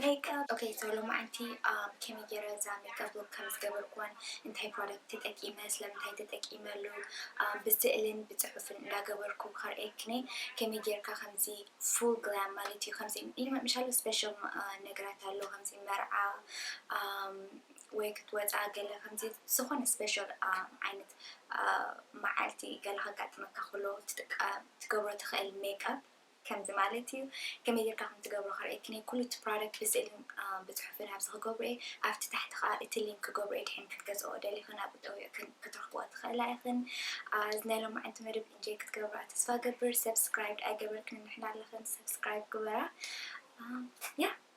ሜክኣፕ ኦኬ ሶ ሎማዓንቲ ከመይ ገይረ እዛ ሜክኣፕ ሉክ ከም ዝገበርክዋን እንታይ ፕሮዳክት ተጠቂመ ስለምንታይ ተጠቂመሉ ብስእልን ብፅሑፍን እንዳገበርኩ ከርእየክኒ ከመይ ገይርካ ከምዚ ፉል ግላም ማለት እዩ ከምዚ ኢንመምሻሉ ስፔሻል ነገራት ኣሎ ከምዚ መርዓ ወይ ክትወፃ ገለ ከምዚ ዝኾነ ስፔሻል ዓይነት መዓልቲ ገለ ከጋጥመካ ከሎ ትጥቀ ትገብሮ ትኽእል ሜክኣፕ ከምዚ ማለት እዩ ከመይ ጌርካ ከም ትገብሮ ከርእየክን እየ ኩሉ እቲ ፕሮዳክት ብስእልን ብጽሑፍን ኣብዚ ክገብሮ እየ ኣብቲ ታሕቲ ከኣ እቲ ሊንክ ክገብሮ እየ ድሕን ክትገዝእኦ ደሊክን ኣብኡ ጠዊቅክን ክትረክብኦ ትክእላ ኢክን ኣብዚ ናይ ሎማዓንቲ መደብ ኢንጆይ ክትገብርኣ ተስፋ ገብር ሰብስክራይብ ኣይገበርክን ንሕና ኣለክን ሰብስክራይብ ግበራ ያ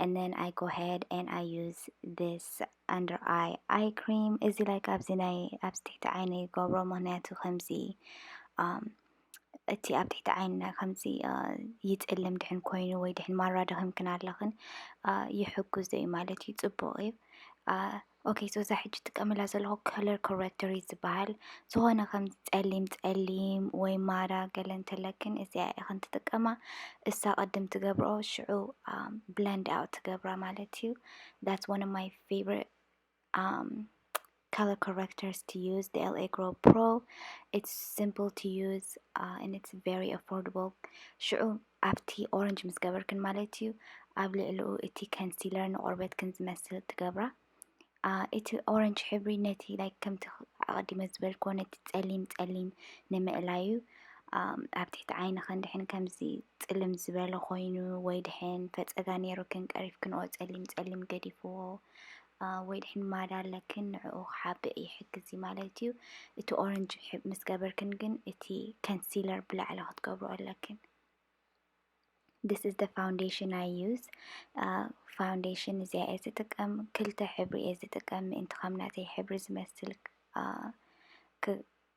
and then I go ahead and I use this under eye eye cream እዚ like ኣብዚ ናይ ኣብዚ ትሕቲ ዓይነ ይገብሮ ምክንያቱ ከምዚ um፣ እቲ ኣብ ትሕቲ ዓይንና ከምዚ uh, ይፅልም ድሕን ኮይኑ ወይ ድሕን ማራ ደኺምክን ኣለኽን uh, ይሕግዞ እዩ ማለት እዩ ፅቡቅ እዩ uh፣ ኦኬ ሶ እዛ ሕጂ ትጥቀመላ ዘለኹ ከለር ኮረክተር እዩ ዝበሃል ዝኾነ ከም ጸሊም ጸሊም ወይ ማራ ገለ እንተለክን እዚኣ ኢኽን ትጥቀማ እሳ ቅድም ትገብሮ ሽዑ ብለንድ ኣውት ትገብራ ማለት እዩ ዳትስ ዋን ኦፍ ማይ ፌቨሪት color correctors to use the LA Grow Pro it's simple to use uh, and it's very affordable ሽዑ ኣብቲ ኦረንጅ ምስ ገበርክን ማለት እዩ ኣብ ልዕሊኡ እቲ ከንሲለር ንቆርበትክን ዝመስል ትገብራ ኣ፣ እቲ ኦረንጅ ሕብሪ ነቲ ላይክ ከምቲ ኣቐዲመ ዝበልክዎ ነቲ ጸሊም ጸሊም ንምእላይ እዩ ኣም፣ ኣብ ትሕቲ ዓይንኽን ድሕን ከምዚ ጽልም ዝበለ ኮይኑ ወይ ድሕን ፈጸጋ ነይሩክን ቀሪፍክንኦ ጸሊም ጸሊም ገዲፍዎ ወይ ድሕን ማዳ ኣለክን ንዕኡ ክሓብእ ይሕግዝ እዩ ማለት እዩ እቲ ኦረንጅ ምስ ገበርክን ግን እቲ ከንሲለር ብላዕሊ ክትገብሩ ኣለክን This is the foundation I use ፋውንዴሽን እዚኣ እየ ዝጥቀም ክልተ ሕብሪ እየ ዝጥቀም ምእንቲ ከም ናተይ ሕብሪ ዝመስል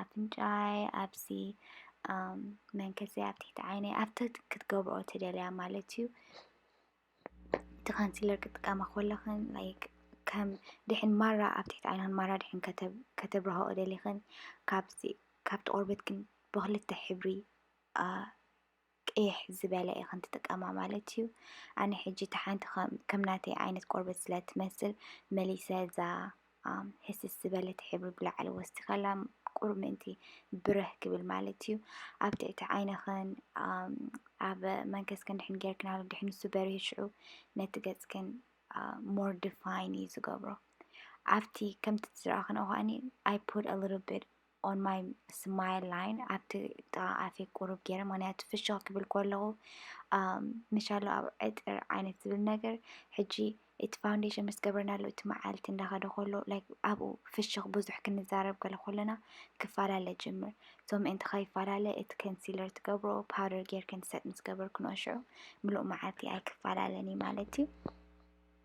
ኣፍንጫይ ኣብዚ መንከሰይ ኣብ ትሕቲ ዓይነይ ኣብ ትሕቲ ክትገብርኦ ትደልያ ማለት እዩ እቲ ካንስለር ክጥቀማ ከለኽን ላይክ ከም ድሕን ማራ ኣብ ትሕቲ ዓይንኽን ማራ ድሕን ከተብርሃኦ ደሊኽን ካብዚ ካብቲ ቆርበትክን ብኽልተ ሕብሪ ቅይሕ ዝበለ ኢኽን ትጥቀማ ማለት እዩ። ኣነ ሕጂ እታ ሓንቲ ከም ናተይ ዓይነት ቆርበት ስለ ትመስል መሊሰ እዛ ህስስ ዝበለት ሕብሪ ብላዕሊ ወሲኸላ ቁሩብ ምእንቲ ብርህ ክብል ማለት እዩ። ኣብ ትሕቲ ዓይንኽን ኣብ መንከስክን ድሕን ጌርክናሉ ድሕን ንሱ በሪሁ ሽዑ ነቲ ገጽክን ሞር ዲፋይን እዩ ዝገብሮ። ኣብቲ ከምቲ ዝረኣኽንኦ ከኣኒ I put a little bit ኦን ማይ ስማይል ላይን ኣብቲ ጥቓ ኣፌ ቁሩብ ገይረ ምክንያቱ ፍሽኽ ክብል ከለኹ ንሻሎ ኣብ ዕጥር ዓይነት ዝብል ነገር ሕጂ እቲ ፋውንዴሽን ምስ ገበርናሉ እቲ መዓልቲ እንዳኸደ ከሎ ላይክ ኣብኡ ፍሽኽ ብዙሕ ክንዛረብ ገለ ከለና ክፈላለ ጅምር ሶ ምእንቲ ከይፈላለ እቲ ከንሲለር ትገብሮ ፓውደር ጌርክን ሰጥ ምስ ገበርክንኦ ሽዑ ምሉእ መዓልቲ ኣይክፈላለን እዩ ማለት እዩ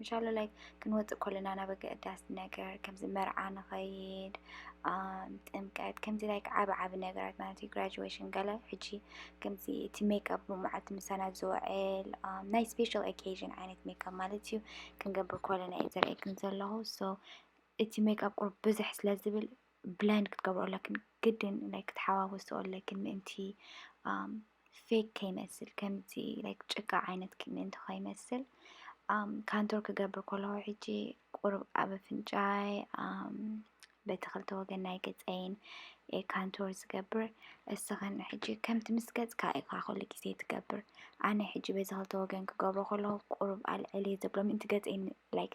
ምሻሎ ላይ ክንወፅእ ኮለና ናብ ኣገዳሲ ነገር ከምዚ መርዓ ንኸይድ ጥምቀት ከምዚ ላይ ዓብ ዓብ ነገራት ማለት እዩ ግራጅዌሽን ገለ ሕጂ ከምዚ እቲ ሜክኣፕ ብመዓልቲ ምሳና ዝውዕል ናይ ስፔሻል ኦኬዥን ዓይነት ሜክኣፕ ማለት እዩ ክንገብር ኮለና እዩ ዘርእየክን ዘለኹ ሶ እቲ ሜክኣፕ ቁርብ ብዝሕ ስለ ዝብል ብላይንድ ክትገብሮ ኣለክን ግድን ላይክ ክትሓዋወስኦ ኣለክን ምእንቲ ፌክ ከይመስል ከምዚ ላይክ ጭቃ ዓይነት ምእንቲ ከይመስል ካንቶር ክገብር ከለኹ ሕጂ ቁሩብ ኣብ ኣፍንጫይ በቲ ክልተ ወገን ናይ ገፀይን ካንቶር ዝገብር እስኽን ሕጂ ከምቲ ምስ ገፅካ ኢኻ ኩሉ ግዜ ትገብር ኣነ ሕጂ በዚ ክልተ ወገን ክገብሮ ከለኹ ቁሩብ ኣልዕል እየ ዘብሎ ምእንቲ ገፀይ ላይክ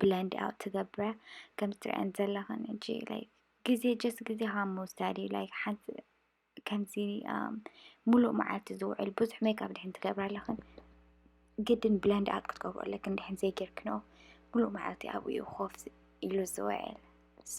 ብለንድ ኣውት ትገብረ ከም ትሪኣን ዘለኽን እጂ ላይክ ግዜ ጀስት ግዜኻ ምውሳድ እዩ ላይክ ሓንቲ ከምዚ ሙሉእ መዓልቲ ዝውዕል ብዙሕ ሜካፕ ድሕን ትገብራ ኣለኽን ግድን ብለንድ ኣውት ክትገብሮ ኣለክን ድሕን ዘይጌርክኖ ሙሉእ መዓልቲ ኣብኡ እዩ ኮፍ ኢሉ ዝውዕል ሶ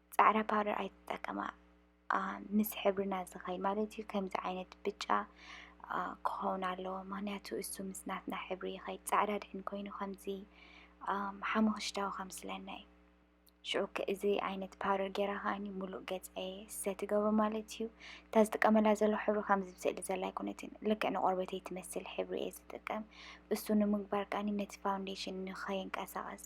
ጻዕዳ ፓውደር ኣይትጠቀማ ምስ ሕብርና ዝኸይ ማለት እዩ ከምዚ ዓይነት ብጫ ክኸውን ኣለዎ ምክንያቱ እሱ ምስ ናትና ሕብሪ ይኸይድ ጻዕዳ ድሕን ኮይኑ ከምዚ ሓሙኽሽታዊ ከም ስለና እዩ ሽዑ እዚ ዓይነት ፓውደር ጌራ ከዓኒ ሙሉእ ገፀይ ሰትገብሮ ማለት እዩ እታ ዝጥቀመላ ዘሎ ሕብሪ ከምዚ ብስእሊ ዘላ ኣይኮነትን ልክዕ ንቆርበተይ ትመስል ሕብሪ እየ ዝጥቀም እሱ ንምግባር ከዓኒ ነቲ ፋውንዴሽን ንኸይንቀሳቐስ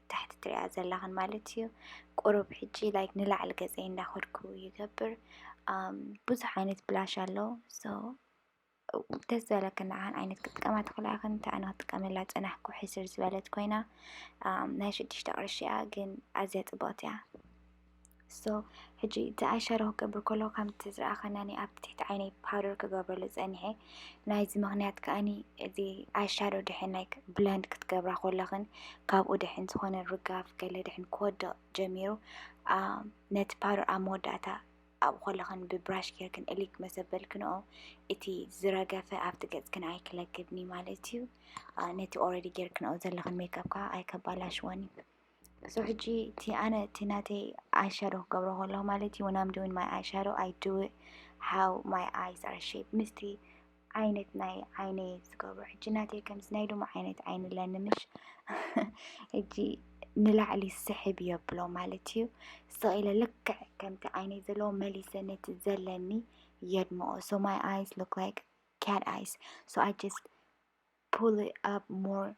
ታሕቲ ትሪኣ ዘላኽን ማለት እዩ ቁሩብ ሕጂ ላይክ ንላዕሊ ገፀይ እንዳኸድኩ ይገብር ብዙሕ ዓይነት ብላሽ ኣሎ ሶ ደስ ዝበለክን ንዓን ዓይነት ክጥቀማ ትኽእላ ኢኽን እንተ ኣነ ክጥቀመላ ፀናሕኩ ሕስር ዝበለት ኮይና ናይ ሽዱሽተ ቅርሺ እያ ግን ኣዝያ ፅብቕቲ እያ so ሕጂ እቲ ኣይ ሻዶ ክገብር ከለኩ ከምቲ ዝረኣከናኒ ኣብቲ ትሕቲ ዓይነይ ፓውደር ክገብረሉ ጸኒሐ ናይዚ ምክንያት ከኣኒ እዚ ኣይ ሻዶ ድሕን ናይ ብለንድ ክትገብራ ኮለክን ካብኡ ድሕን ዝኮነ ርጋፍ ገለ ድሕን ክወድቅ ጀሚሩ ነቲ ፓውደር ኣብ መወዳእታ ኣብኡ ከለክን ብብራሽ ጌርክን እሊክ መሰበልክንኦ እቲ ዝረገፈ ኣብቲ ገጽክን ኣይክለክብኒ ማለት እዩ ነቲ ኦረዲ ጌርክንኦ ዘለክን ሜክኣፕ ከዓ ኣይከባላሽወን እዩ ሶ ሕጂ እቲ ኣነ እቲ ናተይ ኣይሻዶ ክገብሮ ከለኹ ማለት እዩ ወን ኣም ዱዊን ማይ ኣይሻዶ ኣይ ዱ ኢት ሃው ማይ ኣይስ ኣር ሼፕ ምስቲ ዓይነት ናይ ዓይነይ ዝገብሮ ሕጂ ናተይ ከምዚ ናይ ሎሚ ዓይነት ዓይኒ ኣለኒ ምሽ ሕጂ ንላዕሊ ስሕብ የብሎ ማለት እዩ ስቕ ኢለ ልክዕ ከምቲ ዓይነይ ዘለዎ መሊሰ ነቲ ዘለኒ የድምኦ ሶ ማይ ኣይስ ሉክ ላይክ cat eyes so I just Pull it up more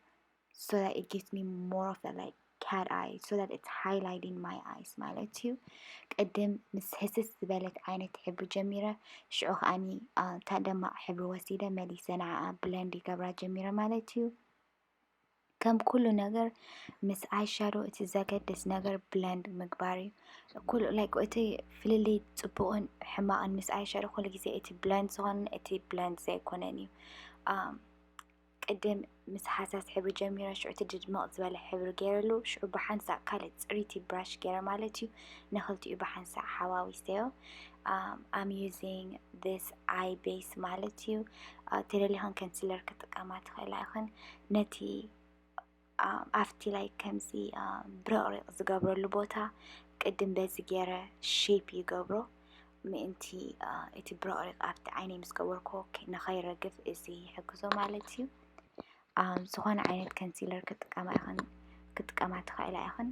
so that it gives me more of that like cat eye so that it's highlighting my eyes ማለት እዩ ቅድም ምስ ህስስ ዝበለት ዓይነት ሕብሪ ጀሚረ ሽዑ ከዓኒ እታ ደማቕ ሕብሪ ወሲደ መሊሰ ንዓኣ ብለንድ ይገብራ ጀሚረ ማለት እዩ ከም ኩሉ ነገር ምስ ኣይሻዶ እቲ ዘገድስ ነገር ብለንድ ምግባር እዩ ኩሉ ላይክ እቲ ፍልልይ ፅቡቕን ሕማቕን ምስ ኣይሻዶ ኩሉ ግዜ እቲ ብለንድ ዝኾነ እቲ ብለንድ ዘይኮነን እዩ ቅድም ምስ ሓሳስ ሕብሪ ጀሚረ ሽዑ እቲ ድድመቕ ዝበለ ሕብሪ ገይረሉ ሽዑ ብሓንሳእ ካልእ ፅሪቲ ብራሽ ገይረ ማለት እዩ ንክልቲኡ ብሓንሳእ ሓዋዊሰዮ ኣም ዩዚንግ ዚስ ኣይ ቤስ ማለት እዩ ተደሊኽን ከንስለር ክጥቀማ ትኽእላ ይኽን ነቲ ኣብቲ ላይ ከምዚ ብርቕሪቕ ዝገብረሉ ቦታ ቅድም በዚ ገይረ ሼፕ ይገብሮ ምእንቲ እቲ ብርቕሪቕ ኣብቲ ዓይነይ ምስ ገበርኮ ንኸይረግፍ እዚ ይሕግዞ ማለት እዩ ዝኾነ ዓይነት ከንሲለር ክጥቀማ ይኽን ክጥቀማ ትኽእላ ይኽን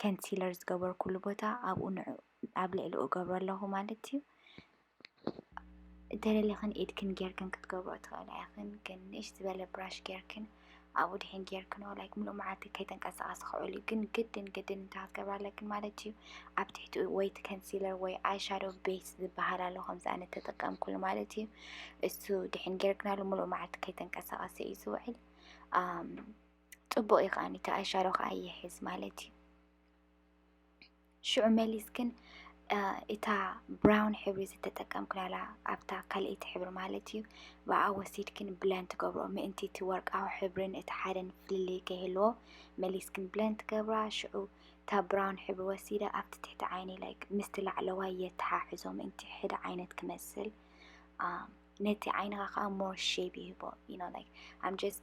ከንሲለር ዝገበርኩሉ ቦታ ኣብኡ ንዑ ኣብ ልዕሊኡ እገብሮ ኣለኹ ማለት እዩ። እንተደሊኽን ኢድክን ጌርክን ክትገብሮ ትኽእላ ኢኽን፣ ግን ንእሽ ዝበለ ብራሽ ጌርክን ኣብኡ ድሒን ጌርክን ላይክ ምሉእ መዓልቲ ከይተንቀሳቐስ ክውዕል እዩ። ግን ግድን ግድን እንታይ ክትገብራ ኣለክን ማለት እዩ ኣብ ትሕቲኡ ወይ እቲ ከንሲለር ወይ ኣይ ሻዶ ቤስ ዝበሃል ኣሎ ከምዚ ኣነ ተጠቀምኩሉ ማለት እዩ። እሱ ድሒን ጌርክናሉ ምሉእ መዓልቲ ከይተንቀሳቐሰ እዩ ዝውዕል። ጽቡቕ እዩ ከኣኒ እቲ ኣሻሮ ከኣ ይሕዝ ማለት እዩ። ሽዑ መሊስ ግን እታ ብራውን ሕብሪ ዝተጠቀምክናላ ኣብታ ካልኣይቲ ሕብሪ ማለት እዩ ብኣ ወሲድክን ብለን ትገብሮ ምእንቲ እቲ ወርቃዊ ሕብርን እቲ ሓደን ፍልልይ ከይህልዎ መሊስክን ብለን ትገብራ ሽዑ እታ ብራውን ሕብሪ ወሲደ ኣብቲ ትሕቲ ዓይኒ ላይ ምስቲ ላዕለዋይ የተሓሕዞ ምእንቲ ሕደ ዓይነት ክመስል ነቲ ዓይንኻ ከዓ ሞር ሼፕ ይህቦ ዩ ኖ ላይክ ኣም ጀስት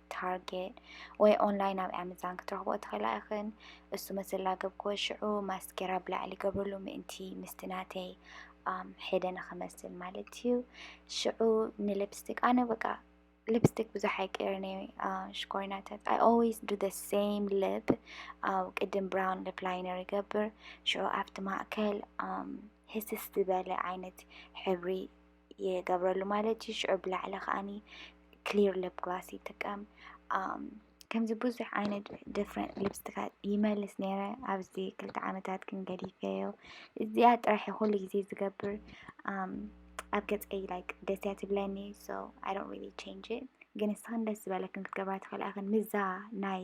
ታርጌት ወይ ኦንላይን ኣብ ኣመዛን ክትረኽቦ ትኽእላ ኢኽን። እሱ መስላ ገብክዎ ሽዑ ማስኬራ ብላዕሊ ገብርሉ ምእንቲ ምስቲ ናተይ ሄደ ንክመስል ማለት እዩ። ሽዑ ንሊፕስቲክ ኣነ በቃ ሊፕስቲክ ብዙሕ ኣይቀይርን እየ ሽኮሪናታት ኣይ ኦልዌይስ ዱ ዘ ሴም ሊፕ ኣብ ቅድም ብራውን ሊፕ ላይነር ይገብር ሽዑ ኣብቲ ማእከል ህስስ ዝበለ ዓይነት ሕብሪ ይገብረሉ ማለት እዩ ሽዑ ብላዕሊ ከዓኒ ክሊር ሊፕ ግላስ ይጥቀም ከምዚ ብዙሕ ዓይነት ዲፍረንት ሊፕስትካት ይመልስ ነይረ ኣብዚ ክልተ ዓመታት ግን ገዲፈዮ እዚኣ ጥራሕ ኩሉ ግዜ ዝገብር ኣብ ገፀይ ላይክ ደስ እያ ትብለኒ ሶ ኣይ ዶንት ሪሊ ቼንጅ ግን ንስኽን ደስ ዝበለክን ክትገብራ ትኽእላ እኽን ምዛ ናይ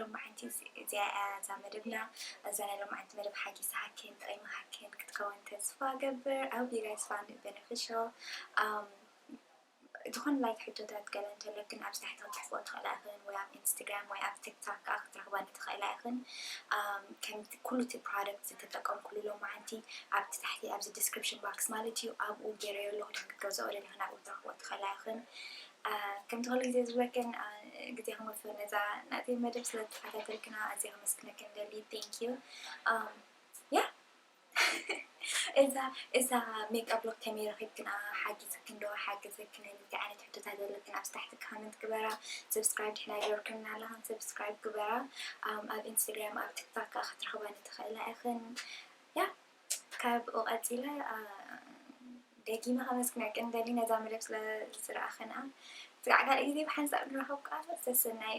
ሎማዕንቲ እዚኣ እያ እዛ መደብና እዛ ናይ ሎማዕንቲ መደብ ሓጊሳ ሃኬን ጠቂማ ሃኬን ክትከውን ተስፋ እገብር I hope you guys found it beneficial um ዝኾነ ላይክ ሕቶታት ገለ እንተለክን ኣብዚ ታሕቲ ክትጽሕፍኦ ትኽእላ ኢኽን ወይ ኣብ ኢንስታግራም ወይ ኣብ ቲክቶክ ከዓ ክትረኽባኒ ትኽእላ ኢኽን ከም ኩሉ እቲ ፕሮዳክት ዝተጠቀምኩሉ ሎማዓንቲ ኣብቲ ታሕቲ ኣብዚ ዲስክሪፕሽን ባክስ ማለት እዩ ኣብኡ ገይረዮ ኣለኹ ክትገዝኦ ደሊኽን ኣብኡ ትረኽቦ ትኽእላ ኢኽን ከምቲ ኩሉ ግዜ ዝብለክን ግዜክን ወፊርክን ነዛ ናተይ መደብ ስለ ዝተኸታተልክና ኣዝየ ከመስግነክን እደሊ thank you ያ እዛ እዛ ሜክኣፕ ሎክ ከመይ ረኺብክና ሓጊዝክን ዶ ሓገዘክን እንታይ ዓይነት ሕቶታት ዘለክን ኣብዚ ታሕቲ ካመንት ግበራ ሰብስክራይብ ድሕና ገበርክን ኣለኽን ሰብስክራይብ ግበራ ኣብ ኢንስታግራም ኣብ ቲክታክ ክትረኽባኒ ትኽእላ ኢኽን ያ ካብኡ ቀጺለ ደጊመ ከመስግነኪ ንደሊ ነዛ መደብ ስለ ዝረኣኽና ስጋዕ ካልእ ግዜ ብሓንሳብ ንራኸብ ቃል ሰሰናዩ